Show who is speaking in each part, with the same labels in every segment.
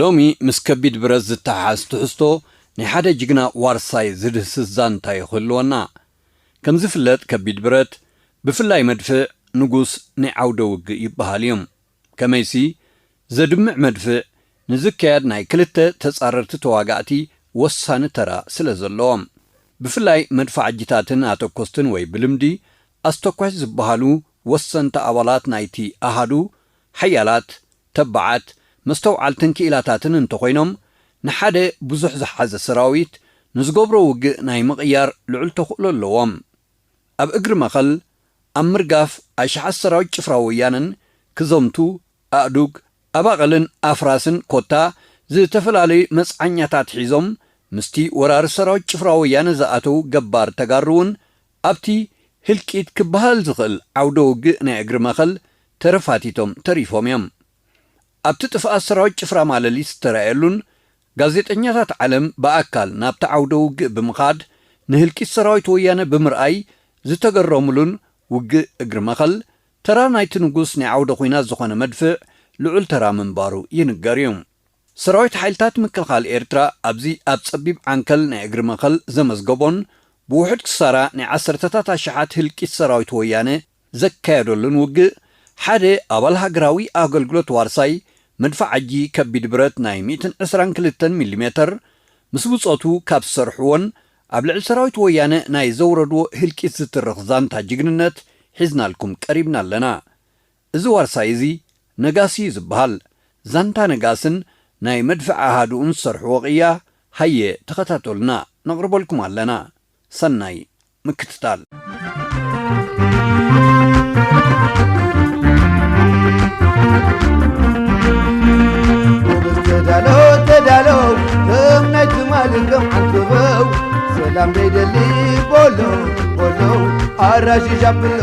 Speaker 1: ሎሚ ምስ ከቢድ ብረት ዝተሓሓዝ ትሕዝቶ ናይ ሓደ ጅግና ዋርሳይ ዝድህስስ ዛንታ እዩ ክህልወና። ከም ዝፍለጥ ከቢድ ብረት፣ ብፍላይ መድፍዕ፣ ንጉስ ናይ ዓውደ ውግእ ይበሃል እዩ። ከመይሲ፣ ዘድምዕ መድፍዕ ንዝካየድ ናይ ክልተ ተጻረርቲ ተዋጋእቲ ወሳኒ ተራ ስለ ዘለዎ። ብፍላይ መድፋዕጂታትን ኣተኮስትን ወይ ብልምዲ ኣስተኳሽ ዝበሃሉ ወሰንቲ ኣባላት ናይቲ ኣሃዱ ሓያላት ተባዓት፣ መስተውዓልትን ክኢላታትን እንተኾይኖም፣ ንሓደ ብዙሕ ዝሓዘ ሰራዊት ንዝገብሮ ውግእ ናይ ምቕያር ልዑል ተኽእሎ ኣለዎም። ኣብ እግሪ መኸል፣ ኣብ ምርጋፍ ኣሽሓት ሰራዊት ጭፍራ ወያነን ክዘምቱ፣ ኣእዱግ፣ ኣባቕልን ኣፍራስን ኮታ ዝተፈላለዩ መጽዓኛታት ሒዞም ምስቲ ወራሪ ሰራዊት ጭፍራ ወያነ ዝኣተው ገባር ተጋሩ'ውን ኣብቲ ህልቂት ክበሃል ዝኽእል ዓውደ ውግእ ናይ እግሪ መኸል ተረፋቲቶም ተሪፎም እዮም። ኣብቲ ጥፍኣት ሰራዊት ጭፍራ ማለሊት ዝተራእየሉን ጋዜጠኛታት ዓለም ብኣካል ናብቲ ዓውደ ውግእ ብምኻድ ንህልቂት ሰራዊት ወያነ ብምርኣይ ዝተገረሙሉን ውግእ እግሪ መኸል ተራ ናይቲ ንጉስ ናይ ዓውደ ኹናት ዝኾነ መድፍዕ ልዑል ተራ ምንባሩ ይንገር እዩ። ሰራዊት ሓይልታት ምክልኻል ኤርትራ ኣብዚ ኣብ ጸቢብ ዓንከል ናይ እግሪ መኸል ዘመዝገቦን ብውሑድ ክሳራ ናይ ዓሰርተታት ኣሽሓት ህልቂት ሰራዊት ወያነ ዘካየደሉን ውግእ ሓደ ኣባል ሃገራዊ ኣገልግሎት ዋርሳይ መድፍዕ ኣጂ ከቢድ ብረት ናይ ሚእትን ዕስራን ክልተን ሚሊሜተር ምስ ብጾቱ ካብ ዝሰርሕዎን ኣብ ልዕሊ ሰራዊት ወያነ ናይ ዘውረድዎ ህልቂት ዝትርኽ ዛንታ ጅግንነት ሒዝናልኩም ቀሪብና ኣለና እዚ ዋርሳይ እዚ ነጋስ እዩ ዝብሃል። ዛንታ ነጋስን ናይ መድፍዕ ኣሃዱኡን ዝሰርሕዎ ቅያ ሃየ ተኸታተሉና ነቕርበልኩም ኣለና። ሰናይ ምክትታል።
Speaker 2: ጎበዝ ተዳሎ ተዳሎ ከም ናይ ትማሊ ከም ዓንተበው ሰላም ደይደሊ ቦሎ ቦሎ ኣራሺሽ ኣብሎ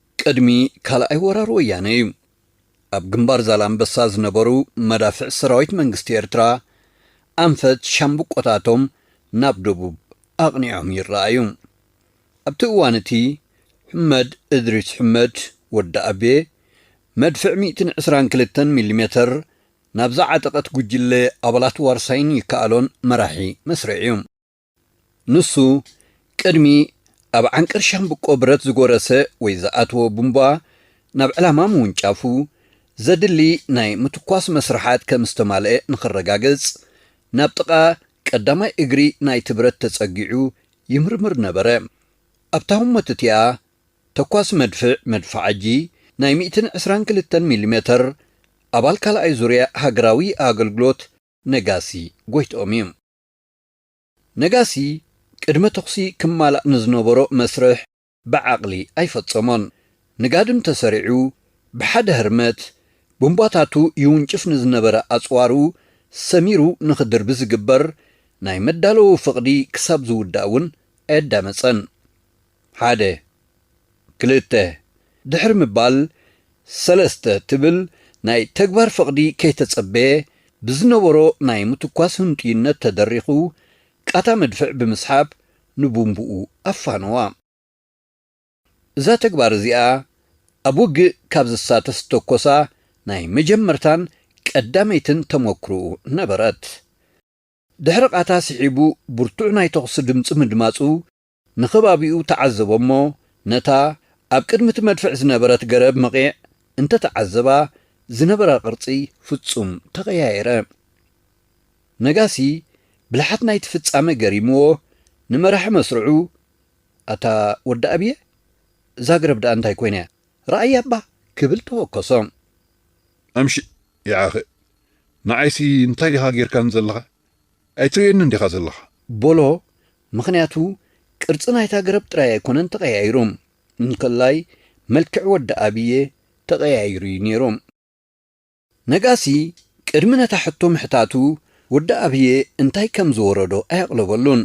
Speaker 1: ቅድሚ ካልኣይ ወራር ወያነ እዩ። ኣብ ግንባር ዛላምበሳ ዝነበሩ መዳፍዕ ሰራዊት መንግስቲ ኤርትራ፣ ኣንፈት ሻምብቆታቶም ናብ ደቡብ ኣቕኒዖም ይረኣዩ። ኣብቲ እዋን እቲ፣ ሑመድ እድሪስ ሑመድ፣ ወዲ ኣቤ፣ መድፍዕ ሚእትን ዕስራን ክልተን ሚሊሜተር ናብ ዝዓጠቐት ጉጅለ ኣባላት ዋርሳይን ይከኣሎን መራሒ መስርዕ እዩ። ንሱ ቅድሚ ኣብ ዓንቀር ሻምብቆ ብረት ዝጎረሰ ወይ ዝኣተወ ቡምባ ናብ ዕላማ ምውንጫፉ፣ ዘድሊ ናይ ምትኳስ መስርሓት ከም ዝተማልኤ ንክረጋገጽ፣ ናብ ጥቓ ቀዳማይ እግሪ ናይቲ ብረት ተጸጊዑ ይምርምር ነበረ። ኣብታ ህሞት እቲኣ፣ ተኳሲ መድፍዕ መድፍዓጂ ናይ ሚእትን ዕስራን ክልተን ሚሊሜተር ኣባል ካልኣይ ዙርያ ሃገራዊ ኣገልግሎት ነጋሲ ጎይትኦም እዩ። ነጋሲ ቅድመ ተኹሲ ክማላእ ንዝነበሮ መስርሕ ብዓቕሊ ኣይፈጸሞን። ንጋድም ተሰሪዑ ብሓደ ህርመት ቡምባታቱ ይውንጭፍ ንዝነበረ ኣጽዋሩ ሰሚሩ ንኽድርቢ ዝግበር ናይ መዳለዊ ፍቕዲ ክሳብ ዝውዳእ እውን ኣየዳመጸን። ሓደ፣ ክልተ ድሕሪ ምባል ሰለስተ ትብል ናይ ተግባር ፍቕዲ ከይተጸበየ ብዝነበሮ ናይ ምትኳስ ህንጡይነት ተደሪኹ ቃታ መድፍዕ ብምስሓብ ንቡምብኡ ኣፋነዋ። እዛ ተግባር እዚኣ ኣብ ውግእ ካብ ዝሳተፍ ዝተኮሳ ናይ መጀመርታን ቀዳመይትን ተመኩርኡ ነበረት። ድሕሪ ቃታ ስሒቡ ብርቱዕ ናይ ተኹሲ ድምጺ ምድማጹ ንኸባቢኡ ተዓዘቦ'ሞ ነታ ኣብ ቅድሚ እቲ መድፍዕ ዝነበረት ገረብ መቚዕ እንተ ተዓዘባ ዝነበራ ቅርጺ ፍጹም ተቐያየረ። ነጋሲ ብልሓት ናይቲ ፍጻመ ገሪምዎ ንመራሒ መስርዑ ኣታ ወዲ ኣብየ እዛ ገረብ ደኣ እንታይ ኮይና'ያ ረኣያ'ባ ክብል ተወከሶ።
Speaker 3: ኣምሽእ ይዓኸ ንዓይሲ እንታይ ኢኻ ጌርካኒ ዘለኻ ኣይትርእዮንን ዲኻ ዘለኻ በሎ
Speaker 1: ምኽንያቱ ቅርጺ ናይታ ገረብ ጥራይ ኣይኮነን ተቐያይሩ እንከላይ መልክዕ ወዲ ኣብየ ተቐያይሩ እዩ ኔሩ። ነጋሲ ቅድሚ ነታ ሕቶ ምሕታቱ ወዲ ኣብየ እንታይ ከም ዝወረዶ ኣየቕለበሉን።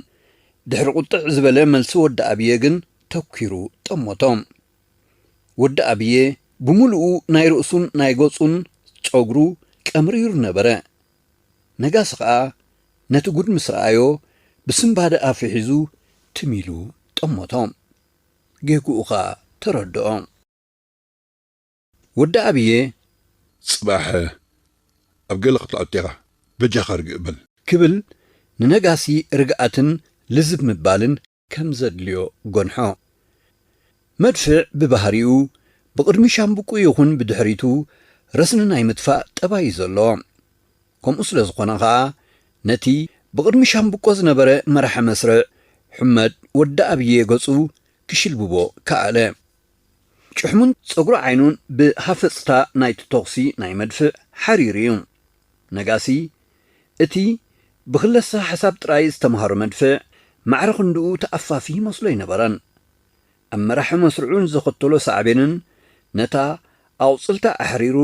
Speaker 1: ድሕሪ ቁጥዕ ዝበለ መልሲ ወዲ ኣብየ ግን ተኲሩ ጠመቶ። ወዲ ኣብየ ብምሉኡ ናይ ርእሱን ናይ ገጹን ጸጉሩ ቀምሪሩ ነበረ። ነጋሲ ከኣ ነቲ ጉድ ምስ ረኣዮ ብስንባደ ኣፉ ሒዙ ትም ኢሉ ጠመቶ። ጌግኡ ከኣ ተረድኦ። ወዲ ኣብየ! ጽባሕ
Speaker 3: ኣብ ገለ ክትኣቱ ኢኻ፣ በጃኻ ርግእ በል። ክብል
Speaker 1: ንነጋሲ ርግኣትን ልዝብ ምባልን ከም ዘድልዮ ጎንሖ። መድፍዕ ብባህሪኡ ብቕድሚ ሻምብቁ ይኹን ብድሕሪቱ ረስኒ ናይ ምጥፋእ ጠባይ'ዩ ዘለዎ። ከምኡ ስለ ዝኾነ ከኣ ነቲ ብቕድሚ ሻምብቆ ዝነበረ መራሒ መስርዕ ሑመድ ወዲ ኣብዬ ገጹ ክሽልብቦ ከኣለ። ጭሕሙን ጸጉሪ ዓይኑን ብሃፈጽታ ናይቲ ተኹሲ ናይ መድፍዕ ሓሪሩ እዩ። ነጋሲ፣ እቲ ብክለሳ ሓሳብ ጥራይ ዝተመሃሮ መድፍዕ፣ ማዕረ ክንድኡ ተኣፋፊ ይመስሎ ኣይነበረን። ኣብ መራሒ መስርዑ ንዘኸተሎ ሳዕቤንን ነታ ኣቑጽልታ ኣሕሪሩ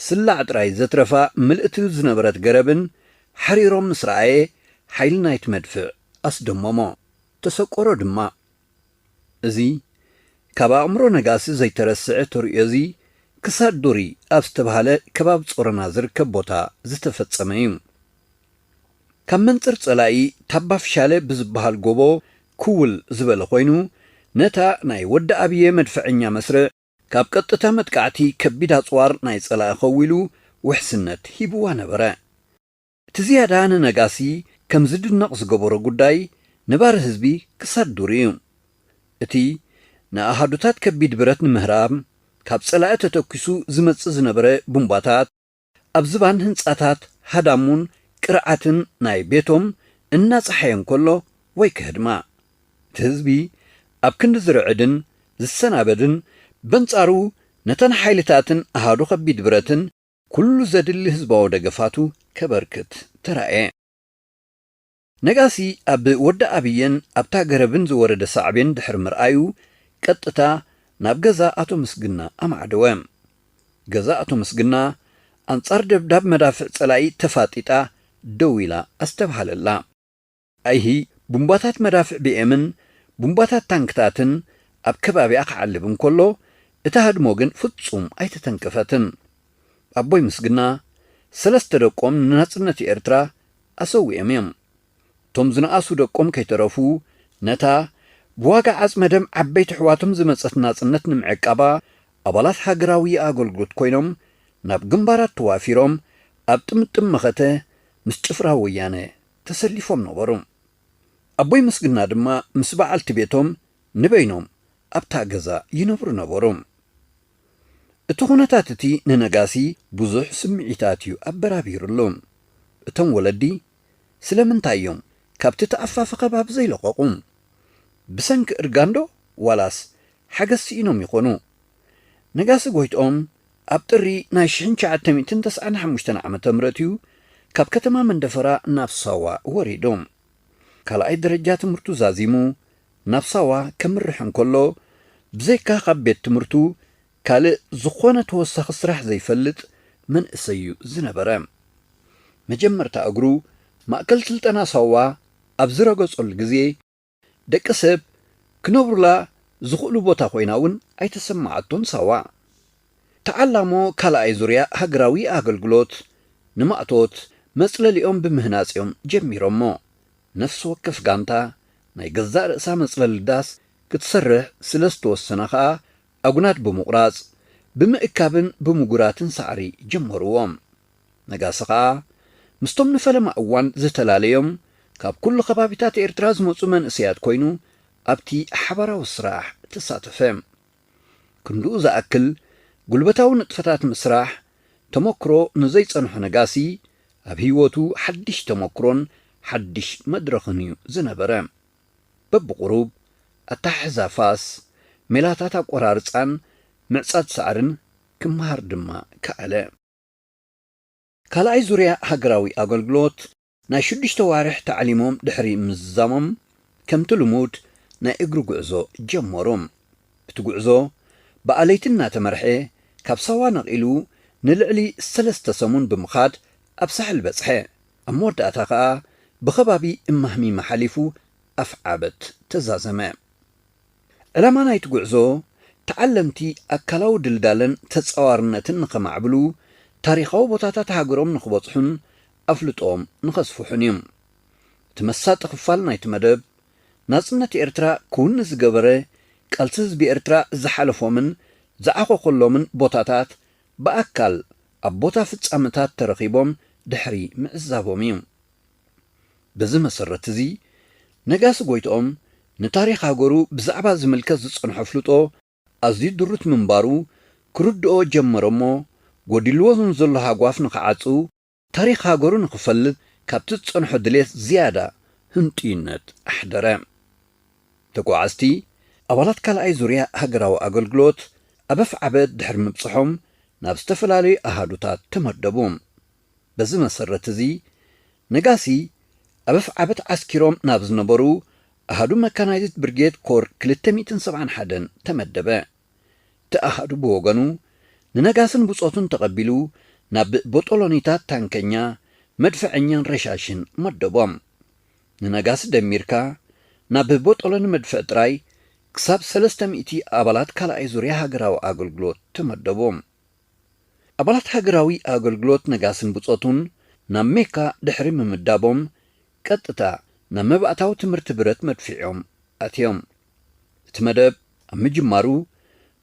Speaker 1: ስላዕ ጥራይ ዘትረፋ ምልእቲ ዝነበረት ገረብን ሓሪሮም ምስ ረኣየ፣ ሓይሊ ናይቲ መድፍዕ ኣስደመሞ። ተሰቆሮ ድማ። እዚ ካብ ኣእምሮ ነጋሲ ዘይተረስዐ ተርእዮ'ዚ፣ ክሳድ ዱሪ ኣብ ዝተብሃለ ከባቢ ጾሮና ዝርከብ ቦታ ዝተፈጸመ እዩ። ካብ መንጽር ጸላኢ ታባፍሻለ ብዝብሃል ጎቦ ክውል ዝበለ ኮይኑ፣ ነታ ናይ ወዲ ኣብየ መድፈዐኛ መስርዕ ካብ ቀጥታ መጥቃዕቲ ከቢድ ኣጽዋር ናይ ጸላኢ ከዊሉ ውሕስነት ሂብዋ ነበረ። እቲ ዝያዳ ንነጋሲ ከም ዝድነቕ ዝገበሮ ጉዳይ ነባሪ ህዝቢ ክሳድ ዱር እዩ። እቲ ንኣሃዱታት ከቢድ ብረት ንምህራም ካብ ጸላኢ ተተኲሱ ዝመጽእ ዝነበረ ቡምባታት፣ ኣብ ዝባን ህንጻታት ሃዳሙን ቅርዓትን ናይ ቤቶም እናጸሓየ እንከሎ ወይ ከህድማ፣ እቲ ህዝቢ ኣብ ክንዲ ዝርዕድን ዝሰናበድን በንጻሩ ነተን ሓይልታትን ኣሃዱ ከቢድ ብረትን ኩሉ ዘድሊ ህዝባዊ ደገፋቱ ከበርክት ተራእየ። ነጋሲ ኣብ ወዲ ኣብየን ኣብታ ገረብን ዝወረደ ሳዕቤን ድሕሪ ምርኣዩ ቀጥታ ናብ ገዛ ኣቶ ምስግና ኣማዕደወ። ገዛ ኣቶ ምስግና ኣንጻር ደብዳብ መዳፍዕ ጸላኢ ተፋጢጣ ደው ኢላ ኣስተብሃለላ። ኣይሂ ቡምባታት መዳፍዕ ቢኤምን ቡምባታት ታንክታትን ኣብ ከባቢኣ ክዓልብ እንከሎ፣ እታ ህድሞ ግን ፍጹም ኣይተተንከፈትን። ኣቦይ ምስግና፣ ሰለስተ ደቆም ንናጽነት ኤርትራ ኣሰዊኦም እዮም። እቶም ዝነኣሱ ደቆም ከይተረፉ፣ ነታ ብዋጋ ዓጽመ ደም ዓበይቲ ኣሕዋቶም ዝመጸት ናጽነት ንምዕቃባ፣ ኣባላት ሃገራዊ ኣገልግሎት ኮይኖም ናብ ግንባራት ተዋፊሮም ኣብ ጥምጥም መኸተ ምስ ጭፍራ ወያነ ተሰሊፎም ነበሩ። ኣቦይ ምስግና ድማ ምስ በዓልቲ ቤቶም ንበይኖም ኣብታ ገዛ ይነብሩ ነበሩ። እቲ ዅነታት እቲ ንነጋሲ ብዙሕ ስምዒታት እዩ ኣበራቢሩሉ። እቶም ወለዲ ስለምንታይ እዮም ካብቲ ተኣፋፊ ከባቢ ዘይለቐቑ? ብሰንኪ እርጋንዶ ዋላስ ሓገዝ ስኢኖም ይዀኑ? ነጋሲ ጐይትኦም ኣብ ጥሪ ናይ ሽሕን ትሽዓተ ሚእትን ተስዓን ሓሙሽተን ዓመተ ምህረት እዩ ካብ ከተማ መንደፈራ ናብ ሳዋ ወሪዱ። ካልኣይ ደረጃ ትምህርቱ ዛዚሙ ናብ ሳዋ ከምርሕ እንከሎ፣ ብዘይካ ካብ ቤት ትምህርቱ ካልእ ዝኾነ ተወሳኺ ስራሕ ዘይፈልጥ መንእሰይ እዩ ዝነበረ። መጀመርታ እግሩ ማእከል ስልጠና ሳዋ ኣብ ዝረገጸሉ ግዜ፣ ደቂ ሰብ ክነብሩላ ዝኽእሉ ቦታ ኮይና እውን ኣይተሰመዓቶን ሳዋ። ተዓላሞ ካልኣይ ዙርያ ሃገራዊ ኣገልግሎት ንማእቶት መጽለሊኦም ብምህናጽ እዮም ጀሚሮሞ። ነፍሲ ወከፍ ጋንታ ናይ ገዛእ ርእሳ መጽለሊ ዳስ ክትሰርሕ ስለ ዝተወሰነ ከኣ ኣጉናድ ብምቑራጽ፣ ብምእካብን ብምጉራትን ሳዕሪ ጀመርዎ። ነጋሲ ከኣ ምስቶም ንፈለማ እዋን ዝተላለዮም ካብ ኩሉ ከባቢታት ኤርትራ ዝመጹ መንእሰያት ኮይኑ ኣብቲ ሓባራዊ ስራሕ ተሳተፈ። ክንድኡ ዝኣክል ጉልበታዊ ንጥፈታት ምስራሕ ተመኩሮ ንዘይጸንሖ ነጋሲ ኣብ ህይወቱ ሓድሽ ተመኩሮን ሓድሽ መድረኽን እዩ ዝነበረ። በብቑሩብ፣ ኣተሓሕዛ ፋስ፣ ሜላታት ኣቆራርጻን ምዕጻድ ሳዕርን ክመሃር ድማ ከኣለ። ካልኣይ ዙርያ ሃገራዊ ኣገልግሎት ናይ ሽዱሽተ ኣዋርሕ ታዕሊሞም ድሕሪ ምዝዛሞም ከምቲ ልሙድ ናይ እግሪ ጉዕዞ ጀመሩ። እቲ ጉዕዞ ብኣለይቲ እናተመርሐ ካብ ሳዋ ነቒሉ ንልዕሊ ሰለስተ ሰሙን ብምኻድ ኣብ ሳሕል በጽሐ። ኣብ መወዳእታ ከኣ ብከባቢ እማህሚማ ሓሊፉ ኣፍዓበት ተዛዘመ። ዕላማ ናይቲ ጉዕዞ ተዓለምቲ ኣካላዊ ድልዳለን ተጻዋርነትን ንኸማዕብሉ፣ ታሪኻዊ ቦታታት ሃገሮም ንኽበጽሑን ኣፍልጦኦም ንኸስፍሑን እዩ። እቲ መሳጢ ክፋል ናይቲ መደብ፣ ናጽነት ኤርትራ ክውኒ ዝገበረ ቃልሲ ህዝቢ ኤርትራ ዝሓለፎምን ዝዓኾኾሎምን ቦታታት ብኣካል ኣብ ቦታ ፍጻመታት ተረኺቦም ድሕሪ ምዕዛቦም እዩ። በዚ መሰረት እዚ ነጋሲ ጎይትኦም ንታሪኽ ሃገሩ ብዛዕባ ዝምልከት ዝጸንሖ ኣፍልጦ ኣዝዩ ድሩት ምንባሩ ክርድኦ ጀመረ'ሞ ጎዲልዎ ንዘሎ ሃጓፍ ንኽዓጽው ታሪኽ ሃገሩ ንኽፈልጥ ካብቲ ዝጸንሖ ድሌት ዝያዳ ህንጡይነት ኣሕደረ። ተጓዓዝቲ ኣባላት ካልኣይ ዙርያ ሃገራዊ ኣገልግሎት ኣብ ኣፍዓበት ድሕሪ ምብጽሖም ናብ ዝተፈላለዩ ኣሃዱታት ተመደቡ። በዚ መሰረት እዚ ነጋሲ ኣብ ኣፍዓበት ዓስኪሮም ናብ ዝነበሩ ኣሃዱ መካናይዝድ ብርጌድ ኮር ክልተ ሚእትን ሰብዓን ሓደን ተመደበ። እቲ ኣሃዱ ብወገኑ ንነጋስን ብጾቱን ተቐቢሉ ናብ ቦጦሎኒታት ታንከኛ፣ መድፍዐኛን ረሻሽን መደቦም። ንነጋሲ ደሚርካ ናብ ቦጦሎኒ መድፍዕ ጥራይ ክሳብ ሰለስተ ሚእቲ ኣባላት ካልኣይ ዙርያ ሃገራዊ ኣገልግሎት ተመደቡ። ኣባላት ሃገራዊ ኣገልግሎት ነጋስን ብጾቱን ናብ ሜካ ድሕሪ ምምዳቦም ቀጥታ ናብ መባእታዊ ትምህርቲ ብረት መድፍዕ'ዮም ኣትዮም። እቲ መደብ ኣብ ምጅማሩ፣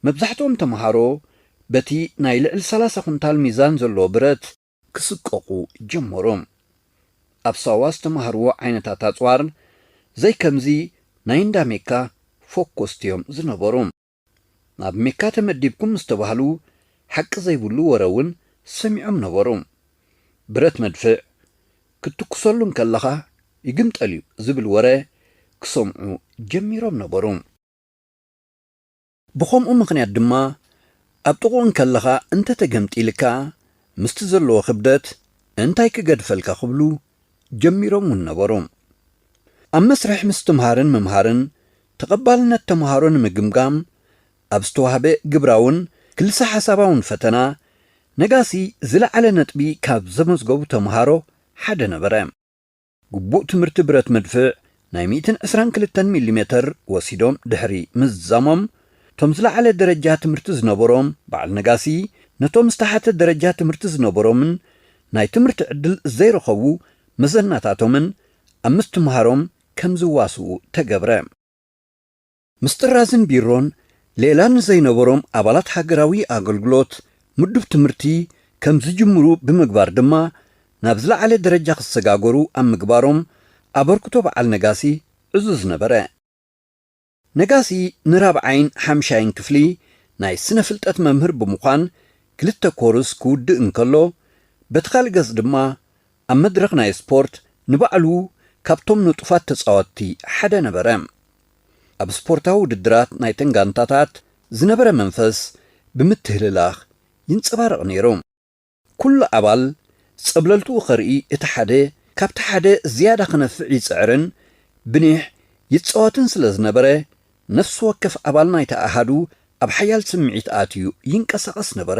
Speaker 1: መብዛሕትኦም ተመሃሮ በቲ ናይ ልዕሊ ሰላሳ ኩንታል ሚዛን ዘለዎ ብረት ክስቀቑ ጀመሩ። ኣብ ሳዋ ዝተማህርዎ ዓይነታት ኣጽዋር ዘይከምዚ ናይ እንዳ ሜካ ፎኮስቲ'ዮም ዝነበሩ። ናብ ሜካ ተመዲብኩም ምስ ተባህሉ ሓቂ ዘይብሉ ወረ'ውን ሰሚዖም ነበሩ። ብረት መድፍዕ ክትትኩሰሉ እንከለኻ ይግምጠል'ዩ ዝብል ወረ ክሰምዑ ጀሚሮም ነበሩ። ብኸምኡ ምኽንያት ድማ ኣብ ጥቕኡ እንከለኻ እንተተገምጢልካ ምስቲ ዘለዎ ክብደት እንታይ ክገድፈልካ ክብሉ ጀሚሮም'ውን ነበሩ። ኣብ መስርሕ ምስትምሃርን ምምሃርን ተቐባልነት ተምሃሮ ንምግምጋም ኣብ ዝተዋህበ ግብራውን ክልሰ ሓሳባውን ፈተና፣ ነጋሲ ዝለዓለ ነጥቢ ካብ ዘመዝገቡ ተምሃሮ ሓደ ነበረ። ግቡእ ትምህርቲ ብረት መድፍዕ ናይ ሚእትን ዕስራን ክልተን ሚሊ ሜተር ወሲዶም ድሕሪ ምዝዛሞም፣ እቶም ዝለዓለ ደረጃ ትምህርቲ ዝነበሮም በዓል ነጋሲ ነቶም ዝተሓተ ደረጃ ትምህርቲ ዝነበሮምን ናይ ትምህርቲ ዕድል ዘይረኸቡ መዘናታቶምን ኣብ ምስትምሃሮም ከም ዝዋስኡ ተገብረ። ምስ ጥራዝን ቢሮን ሌላን ንዘይነበሮም ኣባላት ሃገራዊ ኣገልግሎት ምዱብ ትምህርቲ ከም ዝጅምሩ ብምግባር ድማ ናብ ዝለዓለ ደረጃ ክሰጋገሩ ኣብ ምግባሮም ኣበርክቶ በዓል ነጋሲ ዕዙዝ ነበረ። ነጋሲ ንራብዓይን ሓምሻይን ክፍሊ ናይ ስነ-ፍልጠት መምህር ብምዃን ክልተ ኮርስ ክውድእ እንከሎ፣ በቲ ካልእ ገጽ ድማ ኣብ መድረኽ ናይ ስፖርት ንባዕሉ ካብቶም ንጡፋት ተጻወትቲ ሓደ ነበረ። ኣብ ስፖርታዊ ውድድራት ናይተን ጋንታታት ዝነበረ መንፈስ ብምትህልላኽ ይንጸባረቕ ነይሩ። ኩሉ ኣባል ጸብለልትኡ ከርኢ እቲ ሓደ ካብቲ ሓደ ዝያዳ ክነፍዕ ይጽዕርን ብኒሕ ይጻወትን ስለ ዝነበረ፣ ነፍሲ ወከፍ ኣባል ናይቲ ኣሃዱ ኣብ ሓያል ስምዒት ኣትዩ ይንቀሳቐስ ነበረ።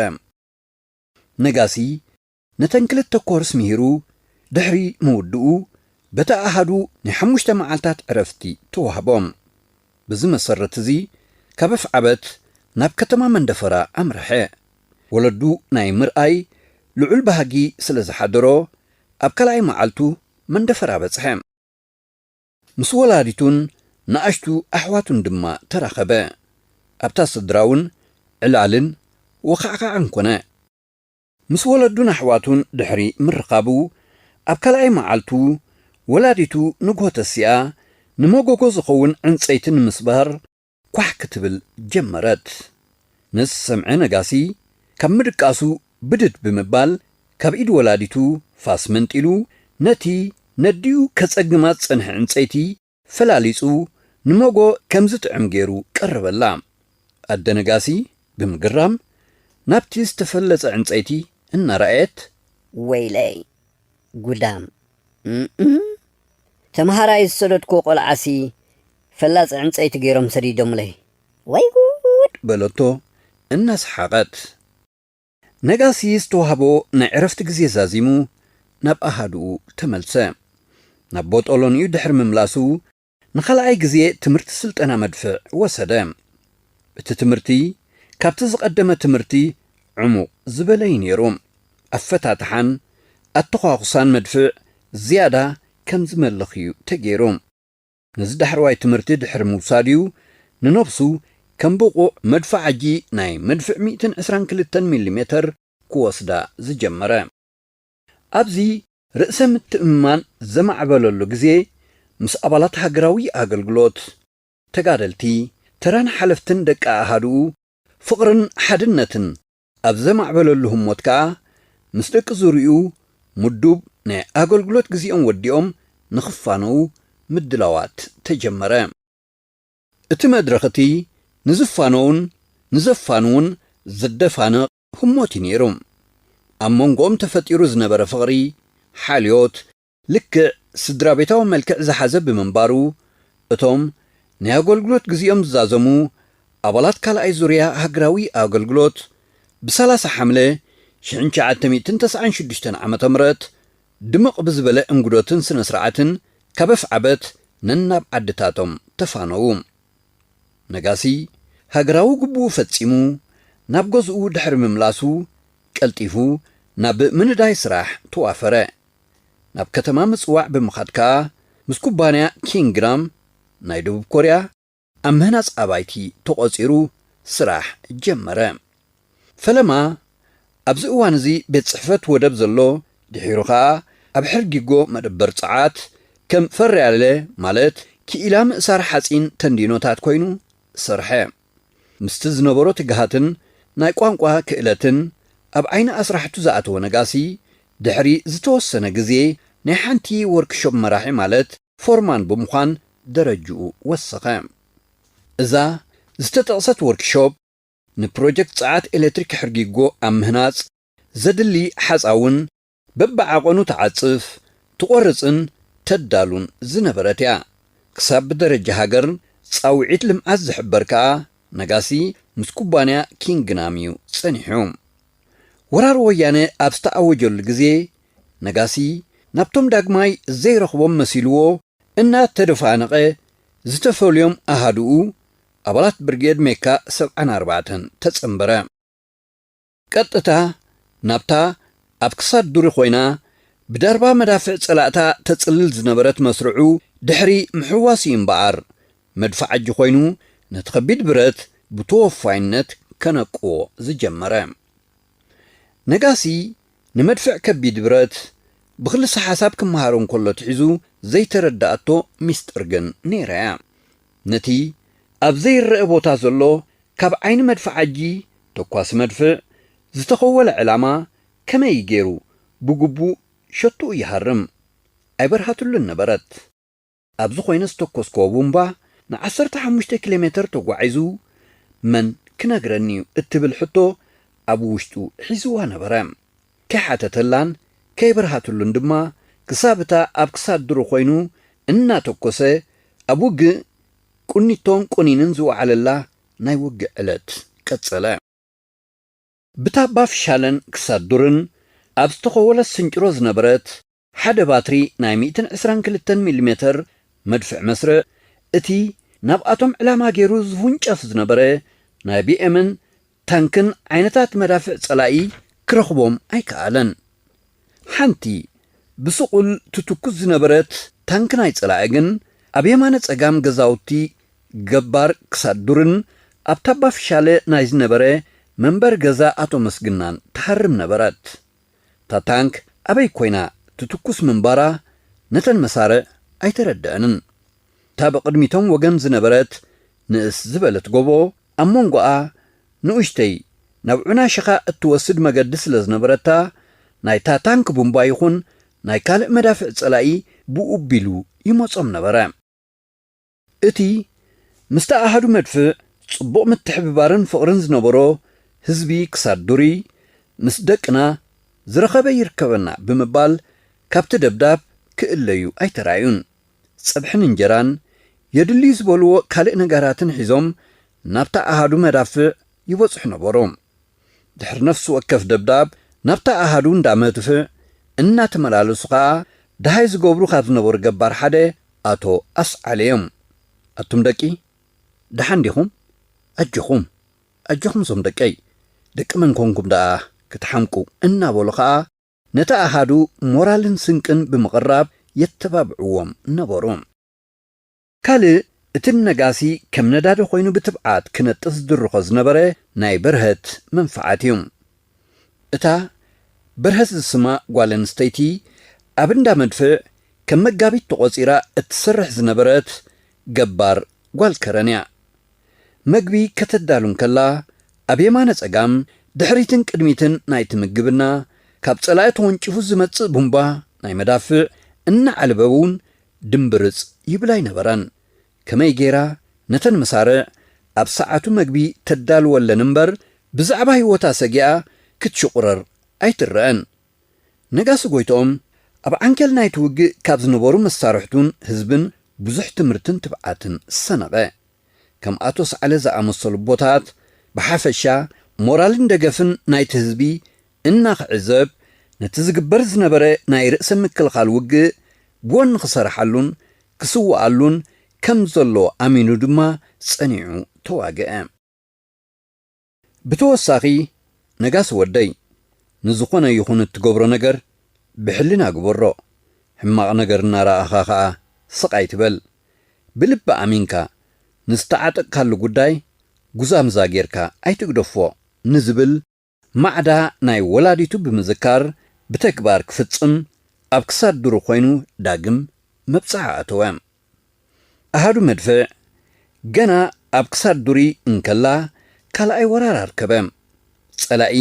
Speaker 1: ነጋሲ፣ ነተን ክልተ ኮርስ ምሂሩ ድሕሪ ምውድኡ በቲ ኣሃዱ ናይ ሓሙሽተ መዓልታት ዕረፍቲ ተዋህቦም። በዚ መሰረት እዚ ካብ ኣፍዓበት ናብ ከተማ መንደፈራ ኣምረሐ። ወለዱ ናይ ምርኣይ ልዑል ባህጊ ስለ ዝሓደሮ ኣብ ካልኣይ መዓልቱ መንደፈራ በጽሐ። ምስ ወላዲቱን ንኣሽቱ ኣሕዋቱን ድማ ተራኸበ። ኣብታ ስድራ'ውን ዕላልን ወኻዕኻዕን ኮነ። ምስ ወለዱን ኣሕዋቱን ድሕሪ ምርኻቡ፣ ኣብ ካልኣይ መዓልቱ፣ ወላዲቱ ንግሆ ተሲኣ፣ ንመጎጎ ዝኸውን ዕንጸይቲ ንምስባር ኳሕ ክትብል ጀመረት። ነዚ ዝሰምዐ ነጋሲ፣ ካብ ምድቃሱ ብድድ ብምባል፣ ካብ ኢድ ወላዲቱ ፋስ መንጢሉ፣ ነቲ ነዲኡ ከጸግማ ዝጸንሐ ዕንጸይቲ ፈላሊጹ ንመጎ ከም ዝጥዕም ገይሩ ቀረበላ። ኣደ ነጋሲ ብምግራም ናብቲ ዝተፈለጸ ዕንጸይቲ
Speaker 4: እናረኣየት።
Speaker 1: ወይለይ! ጉዳም!
Speaker 4: እም! ተመሃራይ ዝሰደድኩዎ ቆልዓሲ ፈላጺ ዕንጸይቲ ገይሮም ሰዲዶምለይ! ወይ ጉድ! በለቶ
Speaker 1: እናሰሓቐት። ነጋሲ ዝተዋህቦ ናይ ዕረፍቲ ግዜ ዛዚሙ ናብ ኣሃዱኡ ተመልሰ። ናብ ቦጦሎኒኡ ድሕሪ ምምላሱ ንኻልኣይ ግዜ ትምህርቲ ስልጠና መድፍዕ ወሰደ። እቲ ትምህርቲ ካብቲ ዝቐደመ ትምህርቲ ዕሙቕ ዝበለ እዩ ነይሩ። ኣፈታትሓን ኣተዃኹሳን መድፍዕ ዝያዳ ከም ዝመልኽ እዩ ተገይሩ። ነዚ ዳሕረዋይ ትምህርቲ ድሕሪ ምውሳዱ'ዩ ንነብሱ ከም ብቑዕ መድፍዓጂ ናይ መድፍዕ ሚእትን ዕስራን ክልተን ሚሊሜተር ክወስዳ ዝጀመረ። ኣብዚ ርእሰ ምትእምማን ዘማዕበለሉ ግዜ ምስ ኣባላት ሃገራዊ ኣገልግሎት፣ ተጋደልቲ፣ ተራን ሓለፍትን ደቂ ኣሃዱኡ ፍቕርን ሓድነትን ኣብ ዘማዕበለሉ ህሞት ከኣ ምስ ደቂ ዙርይኡ ምዱብ ናይ ኣገልግሎት ግዜኦም ወዲኦም ንኽፋነዉ ምድላዋት ተጀመረ። እቲ መድረኽ እቲ ንዝፋነዉን ንዘፋንዉን ዘደፋንቕ ህሞት እዩ ነይሩ። ኣብ መንጎኦም ተፈጢሩ ዝነበረ ፍቕሪ፣ ሓልዮት፣ ልክዕ ስድራቤታዊ መልክዕ ዝሓዘ ብምንባሩ፣ እቶም ናይ ኣገልግሎት ግዜኦም ዝዛዘሙ ኣባላት ካልኣይ ዙርያ ሃገራዊ ኣገልግሎት ብ ሰላሳ ሓምለ ሽሕን ትሽዓተ ሚእትን ተስዓን ሽዱሽተን ዓመተ ምሕረት ድምቕ ብዝበለ እንግዶትን ስነስርዓትን ካብ ኣፍዓበት ነናብ ዓድታቶም ተፋነዉ። ነጋሲ ሃገራዊ ግቡኡ ፈጺሙ ናብ ገዝኡ ድሕሪ ምምላሱ ቀልጢፉ ናብ ምንዳይ ስራሕ ተዋፈረ። ናብ ከተማ ምጽዋዕ ብምኻድ ከኣ ምስ ኩባንያ ኪንግራም ናይ ደቡብ ኮርያ ኣብ ምህናጽ ኣባይቲ ተቖጺሩ ስራሕ ጀመረ። ፈለማ ኣብዚ እዋን እዚ ቤት ጽሕፈት ወደብ ዘሎ ድሒሩ ከኣ ኣብ ሕርጊጎ መደበር ጸዓት ከም ፈርያለ ማለት ክኢላ ምእሳር ሓጺን ተንዲኖታት ኮይኑ ሰርሐ። ምስቲ ዝነበሮ ትግሃትን ናይ ቋንቋ ክእለትን ኣብ ዓይኒ ኣስራሕቱ ዝኣተወ ነጋሲ፣ ድሕሪ ዝተወሰነ ግዜ ናይ ሓንቲ ዎርክሾፕ መራሒ ማለት ፎርማን ብምዃን ደረጅኡ ወሰኸ። እዛ ዝተጠቕሰት ዎርክሾፕ ንፕሮጀክት ጸዓት ኤለትሪክ ሕርጊጎ ኣብ ምህናጽ ዘድሊ ሓጻውን በብዓቐኑ ትዓጽፍ፣ ትቖርጽን ተዳሉን ዝነበረት እያ። ክሳብ ብደረጃ ሃገር ጻውዒት ልምዓት ዝሕበር ከኣ ነጋሲ ምስ ኩባንያ ኪንግናም እዩ ጸኒሑ። ወራር ወያነ ኣብ ዝተኣወጀሉ ግዜ ነጋሲ ናብቶም ዳግማይ ዘይረኽቦም መሲልዎ እናተደፋነቐ ዝተፈልዮም ኣሃዱኡ ኣባላት ብርጌድ ሜካ ሰብዓን ኣርባዕተን ተጸንበረ። ቀጥታ ናብታ ኣብ ክሳድ ዱሪ ኮይና ብደርባ መዳፍዕ ጸላእታ ተጽልል ዝነበረት መስርዑ ድሕሪ ምሕዋስ እዩ እምበኣር፣ መድፍዓጂ ኮይኑ ነቲ ከቢድ ብረት ብተወፋይነት ከነቅዎ ዝጀመረ። ነጋሲ ንመድፍዕ ከቢድ ብረት ብክልሰ-ሓሳብ ክመሃሮ እንከሎ ትሒዙ ዘይተረደኣቶ ሚስጥር ግን ነይራ እያ። ነቲ ኣብ ዘይረኣ ቦታ ዘሎ ካብ ዓይኒ መድፍዓጂ ተኳሲ መድፍዕ ዝተኸወለ ዕላማ ከመይ ገይሩ ብግቡእ ሸቶኡ ይሃርም ኣይበርሃትሉን ነበረት። ኣብ ዝኾይነ ዝተኮስክዎ ቡምባ ንዓሰርተ ሓሙሽተ ኪሎ ሜተር ተጓዒዙ መን ክነግረኒ'ዩ እትብል ሕቶ ኣብ ውሽጡ ሒዝዋ ነበረ። ከይሓተተላን ከይበርሃትሉን ድማ ክሳብ እታ ኣብ ክሳድ ድሩ ኮይኑ እናተኮሰ ኣብ ውግእ ቁኒቶን ቆኒንን ዝወዓለላ ናይ ውግእ ዕለት ቀጸለ። ብታባ ፍሻለን ክሳድ ዱርን ኣብ ዝተኸወለት ስንጭሮ ዝነበረት ሓደ ባትሪ ናይ ሚእትን ዕስራን ክልተን ሚሊሜተር መድፍዕ መስርዕ፣ እቲ ናብኣቶም ዕላማ ገይሩ ዝውንጨፍ ዝነበረ ናይ ቢኤምን ታንክን ዓይነታት መዳፍዕ ጸላኢ ክረኽቦም ኣይከኣለን። ሓንቲ ብስቑል ትትኩስ ዝነበረት ታንክ ናይ ጸላኢ ግን ኣብ የማነ ጸጋም ገዛውቲ ገባር ክሳድ ዱርን ኣብ ታባ ፍሻለ ናይ ዝነበረ መንበሪ ገዛ ኣቶ መስግናን ትሃርም ነበረት። እታ ታንክ ኣበይ ኮይና ትትኩስ ምንባራ ነተን መሳርዕ ኣይተረደኣንን። እታ ብቕድሚ'ቶም ወገን ዝነበረት ንእስ ዝበለት ጎቦ፣ ኣብ መንጎኣ ንኡሽተይ ናብ ዑና ሽኻ እትወስድ መገዲ ስለ ዝነበረታ፣ ናይታ ታንክ ቡምባ ይኹን ናይ ካልእ መዳፍዕ ጸላኢ ብኡቢሉ ይመጾም ነበረ። እቲ ምስታ ኣሃዱ መድፍዕ ጽቡቕ ምትሕብባርን ፍቕርን ዝነበሮ ህዝቢ ክሳድ ዱርይ ምስ ደቅና ዝረኸበ ይርከበና ብምባል ካብቲ ደብዳብ ክእለዩ ኣይተራእዩን። ጸብሕን እንጀራን የድልዩ ዝበልዎ ካልእ ነጋራትን ሒዞም ናብታ ኣሃዱ መዳፍዕ ይበጽሑ ነበሩ። ድሕሪ ነፍሲ ወከፍ ደብዳብ ናብታ ኣሃዱ እንዳ መድፍዕ እናተመላለሱ ከኣ ደሃይ ዝገብሩ ካብ ዝነበሩ ገባር ሓደ ኣቶ ኣስዓለ እዮም። ኣቱም ደቂ ደሓን ዲኹም? ኣጆኹም ኣጆኹም እዞም ደቀይ ደቂ መን ኮንኩም ደኣ ክትሓምቁ እናበሉ ከኣ ነቲ ኣሃዱ ሞራልን ስንቅን ብምቕራብ የተባብዕዎም ነበሩ። ካልእ እቲ ንነጋሲ ከም ነዳዲ ኮይኑ ብትብዓት ክነጥፍ ዝድርኾ ዝነበረ ናይ በርሀት መንፍዓት እዩ። እታ በርሀት ዝስማ ጓል ኣንስተይቲ ኣብ እንዳ መድፍዕ ከም መጋቢት ተቖጺራ እትሰርሕ ዝነበረት ገባር ጓል ከረን እያ። መግቢ ከተዳሉ እንከላ ኣብ የማነ ጸጋም ድሕሪትን ቅድሚትን ናይቲ ምግብና ካብ ጸላኢ ተወንጪፉ ዝመጽእ ቡምባ ናይ መዳፍዕ እናዓልበ እውን ድምብርጽ ይብል ኣይነበረን። ከመይ ገይራ ነተን መሳርዕ ኣብ ሰዓቱ መግቢ ተዳልወለን እምበር ብዛዕባ ህይወታ ሰጊኣ ክትሽቑረር ኣይትረኣን። ነጋሲ ጎይትኦም ኣብ ዓንኬል ናይቲ ውግእ ካብ ዝነበሩ መሳርሕቱን ህዝብን ብዙሕ ትምህርትን ትብዓትን ሰነቐ። ከም ኣቶ ሰዓለ ዝኣመሰሉ ኣቦታት ብሓፈሻ ሞራልን ደገፍን ናይቲ ህዝቢ እናኽዕዘብ ነቲ ዝግበር ዝነበረ ናይ ርእሰ ምክልኻል ውግእ ጎኒ ክሰርሓሉን ክስውኣሉን ከም ዘሎ ኣሚኑ ድማ ጸኒዑ ተዋግኣ። ብተወሳኺ ነጋሲ ወደይ ንዝኾነ ይኹን እትገብሮ ነገር ብሕልና ግበሮ፣ ሕማቕ ነገር እናረኣኻ ከኣ ስቕ ኣይትበል፣ ብልቢ ኣሚንካ ንዝተዓጠቕካሉ ጉዳይ ጉዛምዛ ጌርካ ኣይትግደፎ ንዝብል ማዕዳ ናይ ወላዲቱ ብምዝካር ብተግባር ክፍጽም ኣብ ክሳድ ድሩ ኮይኑ ዳግም መብጽዓ ኣተወ። ኣሃዱ መድፍዕ ገና ኣብ ክሳድ ዱሪ እንከላ ካልኣይ ወራር ኣርከበ። ጸላኢ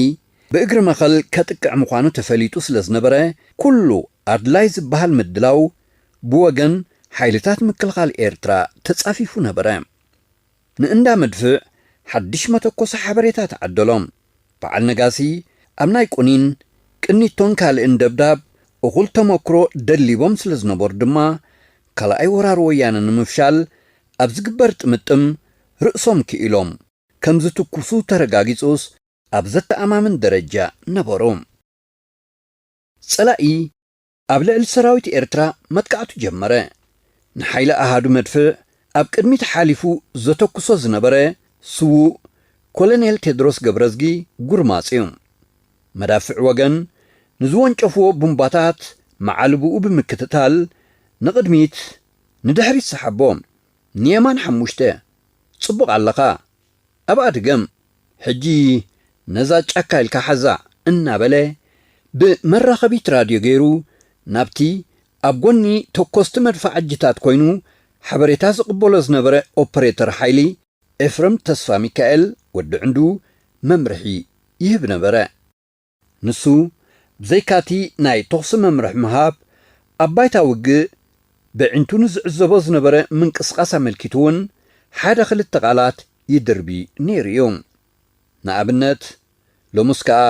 Speaker 1: ብእግሪ መኸል ከጥቅዕ ምዃኑ ተፈሊጡ ስለ ዝነበረ ኩሉ ኣድላይ ዝበሃል ምድላው ብወገን ሓይልታት ምክልኻል ኤርትራ ተጻፊፉ ነበረ። ንእንዳ መድፍዕ ሓድሽ መተኮሲ ሓበሬታ ተዓደሎም። በዓል ነጋሲ ኣብ ናይ ቁኒን፣ ቅኒቶን ካልእን ደብዳብ እኹል ተመክሮ ደሊቦም ስለዝነበሩ ድማ ካልኣይ ወራር ወያነ ንምፍሻል ኣብ ዝግበር ጥምጥም ርእሶም ክኢሎም ከምዝትኩሱ ተረጋጊጹስ ኣብ ዘተኣማምን ደረጃ ነበሩ። ጸላኢ ኣብ ልዕሊ ሰራዊት ኤርትራ መጥቃዕቱ ጀመረ። ንሓይሊ ኣሃዱ መድፍዕ ኣብ ቅድሚት ሓሊፉ ዘተኩሶ ዝነበረ ስዉእ ኮለኔል ቴድሮስ ገብረዝጊ ጉርማጽ'ዩ። መዳፍዕ ወገን ንዝወንጨፉዎ ቡምባታት መዓልቦኡ ብምክትታል ንቕድሚት ንድሕሪት ሰሓቦ። ንየማን ሓሙሽተ። ጽቡቕ ኣለኻ። ኣብኣ ድገም። ሕጂ ነዛ ጫካ ኢልካ ሓዛ እናበለ ብመራኸቢት ራድዮ ገይሩ ናብቲ ኣብ ጎኒ ተኮስቲ መድፋዓጂታት ኮይኑ ሓበሬታ ዝቕበሎ ዝነበረ ኦፕሬተር ሓይሊ ኤፍረም ተስፋሚካኤል፣ ወዲ ዕንዱ፣ መምርሒ ይህብ ነበረ። ንሱ ብዘይካ'ቲ ናይ ተኹሲ መምርሒ ምሃብ፣ ኣብ ባይታ ውግእ በዒንቱ ንዝዕዘቦ ዝነበረ ምንቅስቓስ ኣመልኪቱ'ውን ሓደ ክልተ ቃላት ይድርቢ ነይሩ እዩ። ንኣብነት፣ ሎምስ ከኣ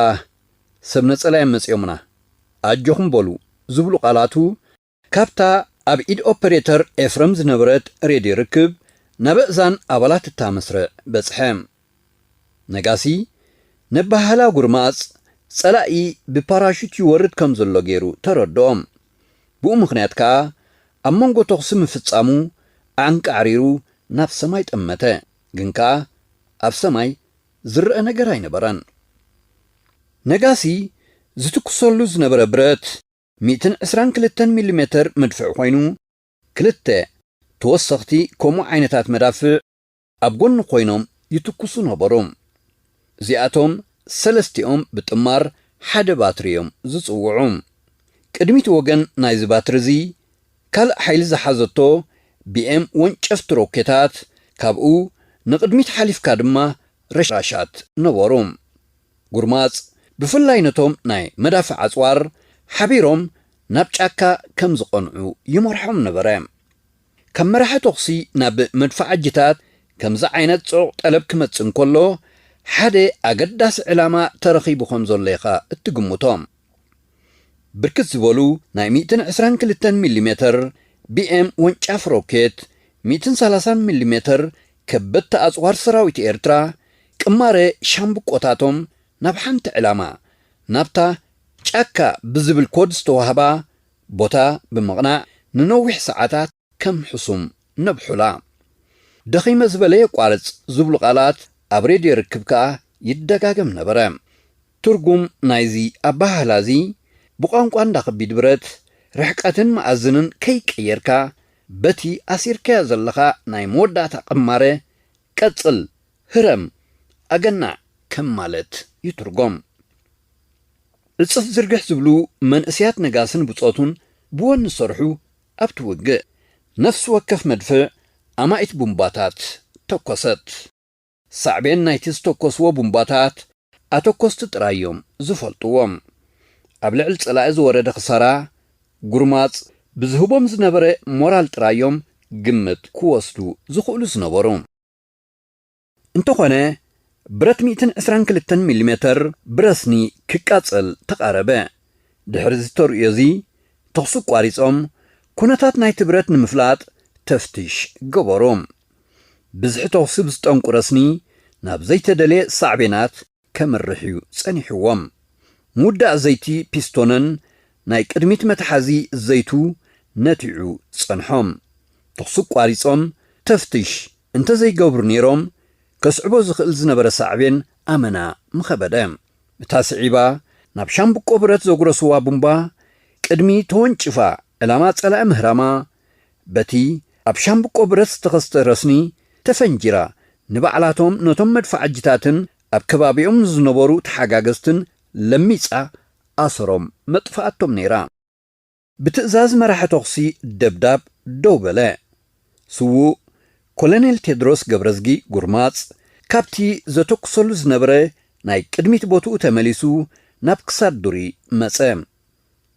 Speaker 1: ሰብ ነጸላ'ዮም መጺኦምና፣ ኣጆኹም በሉ ዝብሉ ቃላቱ፣ ካብታ ኣብ ኢድ ኦፐሬተር ኤፍረም ዝነበረት ሬድዮ ርክብ ናብ ኣእዛን ኣባላት እታ መስርዕ በጽሐ። ነጋሲ ነባሃላ ጉርማጽ ጸላኢ ብፓራሹት ይወርድ ከም ዘሎ ገይሩ ተረድኦም። ብኡ ምኽንያት ከኣ ኣብ መንጎ ተኹሲ ምፍጻሙ ኣዕንቃዕሪሩ ናብ ሰማይ ጠመተ። ግን ከኣ ኣብ ሰማይ ዝረኣ ነገር ኣይነበረን። ነጋሲ ዝትኩሰሉ ዝነበረ ብረት። ሚእትን ዕስራን ክልተን ሚሊሜተር መድፍዕ ኮይኑ፣ ክልተ ተወሰኽቲ ከምኡ ዓይነታት መዳፍዕ ኣብ ጎኑ ኮይኖም ይትኩሱ ነበሩ። እዚኣቶም ሰለስቲኦም ብጥማር ሓደ ባትሪ እዮም ዝጽውዑ። ቅድሚት ወገን ናይዚ ባትሪ እዚ ካልእ ሓይሊ ዝሓዘቶ ቢኤም ወንጨፍቲ ሮኬታት፣ ካብኡ ንቕድሚት ሓሊፍካ ድማ ረሻሻት ነበሩ። ጉርማጽ ብፍላይ ነቶም ናይ መዳፍዕ ኣጽዋር ሓቢሮም ናብ ጫካ ከም ዝቐንዑ ይመርሖም ነበረ። ካብ መራሒ ተኹሲ ናብ መድፍዓጂታት ከምዚ ዓይነት ጽዑቕ ጠለብ ክመጽእ እንከሎ ሓደ ኣገዳሲ ዕላማ ተረኺቡ ከም ዘሎ ኢኻ እትግምቶ። ብርክት ዝበሉ ናይ ሚእትን ዕስራን ክልተን ሚሊሜተር፣ ቢኤም፣ ወንጫፍ ሮኬት፣ ሚእትን ሰላሳን ሚሊሜተር ከበድቲ ኣጽዋር ሰራዊት ኤርትራ ቅማረ ሻምብቆታቶም ናብ ሓንቲ ዕላማ፣ ናብታ ጫካ ብዝብል ኮድ ዝተዋህባ ቦታ ብምቕናዕ ንነዊሕ ሰዓታት ከም ሕሱም ነብሑላ። ደኺመ ዝበለ የቋርጽ ዝብሉ ቃላት ኣብ ሬድዮ ርክብ ከኣ ይደጋገም ነበረ። ትርጉም ናይዚ ኣበሃህላ እዚ፣ ብቋንቋ እንዳ ከቢድ ብረት፣ ርሕቀትን መኣዝንን ከይቀየርካ፣ በቲ ኣሲርካዮ ዘለኻ ናይ መወዳእታ ቅማረ፣ ቀጽል፣ ህረም፣ ኣገናዕ! ከም ማለት ይትርጎም። ዕጽፍ ዝርግሕ ዝብሉ መንእሰያት ነጋስን ብጾቱን ብወኒ ዝሰርሑ ኣብቲ ውግእ፣ ነፍሲ ወከፍ መድፍዕ ኣማኢት ቡምባታት ተኮሰት። ሳዕቤን ናይቲ ዝተኮስዎ ቡምባታት ኣተኮስቲ ጥራይ እዮም ዝፈልጥዎ። ኣብ ልዕሊ ጸላኢ ዝወረደ ክሳራ ጉርማጽ ብዝህቦም ዝነበረ ሞራል ጥራይ እዮም ግምት ክወስዱ ዝኽእሉ ዝነበሩ። እንተኾነ ብረት ሚእትን ዕስራን ክልተን ሚሊሜተር ብረስኒ ክቃጸል ተቓረበ። ድሕሪ እዚ ተርእዮ እዚ ተኹሲ ኣቋሪጾም ኩነታት ናይቲ ብረት ንምፍላጥ ተፍትሽ ገበሩ። ብዝሒ ተኹሲ ብዝጠንቁ ረስኒ ናብ ዘይተደልየ ሳዕቤናት ከምርሕ እዩ ጸኒሕዎ። ምውዳእ ዘይቲ ፒስቶንን ናይ ቅድሚት መትሓዚ ዘይቱ ነቲዑ ጸንሖም። ተኹሲ ኣቋሪጾም ተፍትሽ እንተዘይገብሩ ነይሮም ከስዕቦ ዝኽእል ዝነበረ ሳዕቤን ኣመና ምኸበደ። እታ ስዒባ ናብ ሻምብቆ ብረት ዘጉረስዋ ቡምባ ቅድሚ ተወንጭፋ ዕላማ ጸላኢ ምህራማ፣ በቲ ኣብ ሻምብቆ ብረት ዝተኸስተ ረስኒ ተፈንጂራ ንባዕላቶም ነቶም መድፋዓጂታትን ኣብ ከባቢኦም ንዝነበሩ ተሓጋገዝትን ለሚጻ ኣሰሮም መጥፍኣቶም ነይራ። ብትእዛዝ መራሒ ተኹሲ ደብዳብ ደው በለ። ስዉእ ኮለኔል ቴድሮስ ገብረዝጊ ጉርማጽ ካብቲ ዘተኩሰሉ ዝነበረ ናይ ቅድሚት ቦትኡ ተመሊሱ ናብ ክሳድ ዱሪ መጸ።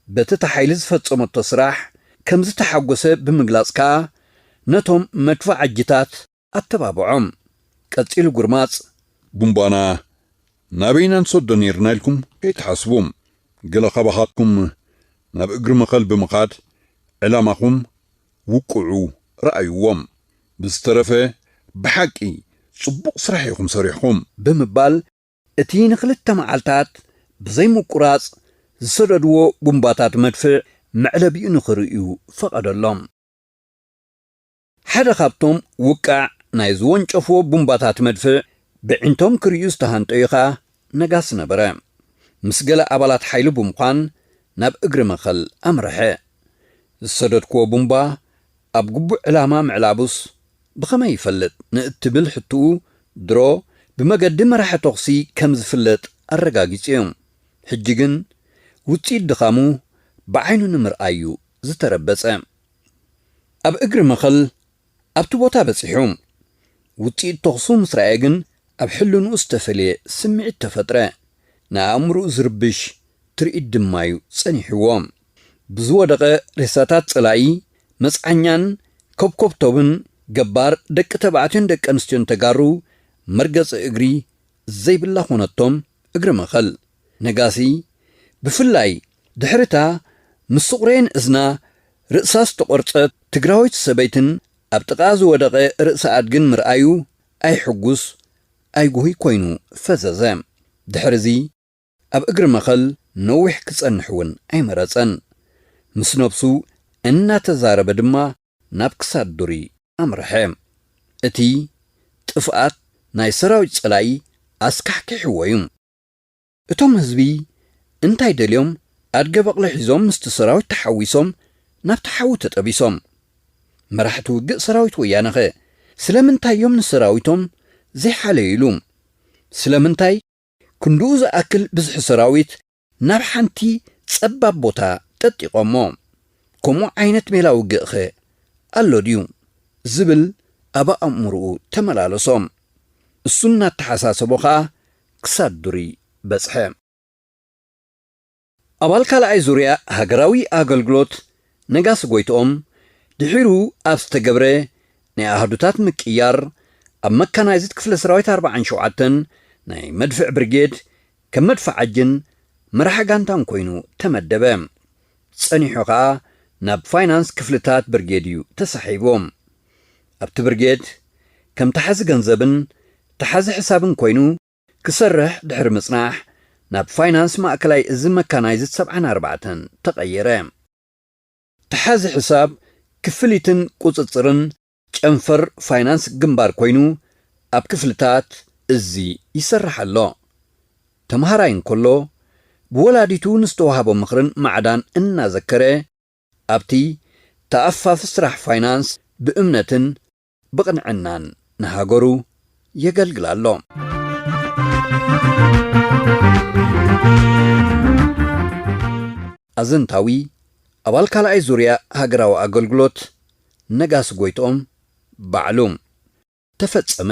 Speaker 1: በቲ እታ ሓይሊ ዝፈጸመቶ ስራሕ ከምዝተሓጎሰ ብምግላጽ ከኣ ነቶም መድፋዓጂታት ኣተባብዖም። ቀጺሉ ጉርማጽ። ቡንቧና
Speaker 3: ናበይ ኢና ንሰዶ ኔርና ኢልኩም ከይትሓስቡ፣ ገለ ካባኻትኩም ናብ እግሪ መኸል ብምኻድ ዕላማኹም ውቅዑ ርኣይዎ። ብዝተረፈ ብሓቂ ጽቡቕ ስራሕ ኢኹም ሰሪሕኹም። ብምባል
Speaker 1: እቲ ንክልተ መዓልታት ብዘይ ምቁራጽ ዝሰደድዎ ቡምባታት መድፍዕ መዕለቢኡ ንክርእዩ ፈቐደሎም። ሓደ ካብቶም ውቃዕ ናይ ዝወንጨፍዎ ቡምባታት መድፍዕ ብዒንቶም ክርእዩ ዝተሃንጠዩ ከኣ ነጋሲ ነበረ። ምስ ገለ ኣባላት ሓይሉ ብምዃን ናብ እግሪ መኸል ኣምረሐ። ዝሰደድክዎ ቡምባ ኣብ ግቡእ ዕላማ ምዕላቡስ ብኸመይ ይፈልጥ ንእትብል ሕትኡ፣ ድሮ ብመገዲ መራሒ ተኹሲ ከም ዝፍለጥ ኣረጋጊጹ'ዩ። ሕጂ ግን ውጽኢት ድኻሙ ብዓይኑ ንምርኣይ'ዩ ዝተረበጸ። ኣብ እግሪ መኸል ኣብቲ ቦታ በጺሑ። ውጽኢት ተኹሱ ምስ ረኣየ ግን ኣብ ሕልንኡ ዝተፈልየ ስምዒት ተፈጥረ። ንኣእምሮኡ ዝርብሽ ትርኢት ድማ'ዩ ጸኒሕዎ። ብዝወደቐ ሬሳታት ጸላኢ መጽዓኛን ኮብኮብቶብን ገባር ደቂ ተባዕትዮን ደቂ ኣንስትዮን ተጋሩ መርገጺ እግሪ ዘይብላ ኮነቶም። እግሪ መኸል ነጋሲ ብፍላይ ድሕሪታ ምስ ስቑሬን እዝና ርእሳ ዝተቖርጸት ትግራወይቲ ሰበይትን ኣብ ጥቓኣ ዝወደቐ ርእሲ ኣድግን ምርኣዩ ኣይሕጉስ ኣይጉሁይ ኮይኑ ፈዘዘ። ድሕሪዚ። ኣብ እግሪ መኸል ነዊሕ ክጸንሕ እውን ኣይመረጸን። ምስ ነብሱ እናተዛረበ ድማ ናብ ክሳድ ዱሪ ኣምርሐ። እቲ ጥፍኣት ናይ ሰራዊት ጸላኢ ኣስካሕኪሕዎ እዩ። እቶም ህዝቢ እንታይ ደልዮም ኣድገ በቕሊ ሒዞም ምስቲ ሰራዊት ተሓዊሶም ናብቲ ሓዊ ተጠቢሶም። መራሕቲ ውግእ ሰራዊት ወያነኸ ስለምንታይ እዮም ንሰራዊቶም ዘይሓለዩሉ? ስለምንታይ ክንድኡ ዝኣክል ብዝሒ ሰራዊት ናብ ሓንቲ ጸባብ ቦታ ጠጢቖሞ፣ ከምኡ ዓይነት ሜላ ውግእ'ኸ ኣሎ ድዩ? ዝብል ኣብ ኣእምሮኡ ተመላለሶ። እሱ እናተሓሳሰቦ ከኣ ክሳብ ዱሪ በጽሐ። ኣባል ካልኣይ ዙርያ ሃገራዊ ኣገልግሎት ነጋሲ ጎይትኦም፣ ድሒሩ ኣብ ዝተገብረ ናይ ኣሃዱታት ምቅይያር፣ ኣብ መካናይዝድ ክፍለ ሰራዊት ኣርብዓን ሸውዓተን ናይ መድፍዕ ብርጌድ ከም መድፈዓጅን መራሒ ጋንታን ኮይኑ ተመደበ። ጸኒሑ ከኣ ናብ ፋይናንስ ክፍልታት ብርጌድ እዩ ተሳሒቡ። ኣብቲ ብርጌድ ከም ተሓዚ ገንዘብን ተሓዚ ሕሳብን ኮይኑ፣ ክሰርሕ ድሕሪ ምጽናሕ፣ ናብ ፋይናንስ ማእከላይ እዚ መካናይዝድ ሰብዓን ኣርባዕተን ተቐየረ። ተሓዚ ሕሳብ ክፍሊትን ቁጽጽርን ጨንፈር ፋይናንስ ግንባር ኮይኑ ኣብ ክፍልታት እዚ ይሰርሕ ኣሎ። ተመሃራይ እንከሎ ብወላዲቱ ንዝተዋህቦ ምኽርን ማዕዳን እናዘከረ ኣብቲ ተኣፋፊ ስራሕ ፋይናንስ ብእምነትን ብቕንዕናን ንሃገሩ የገልግል ኣሎ። ኣዘንታዊ ኣባል ካልኣይ ዙርያ ሃገራዊ ኣገልግሎት ነጋሲ ጎይትኦም ባዕሉ። ተፈጸመ!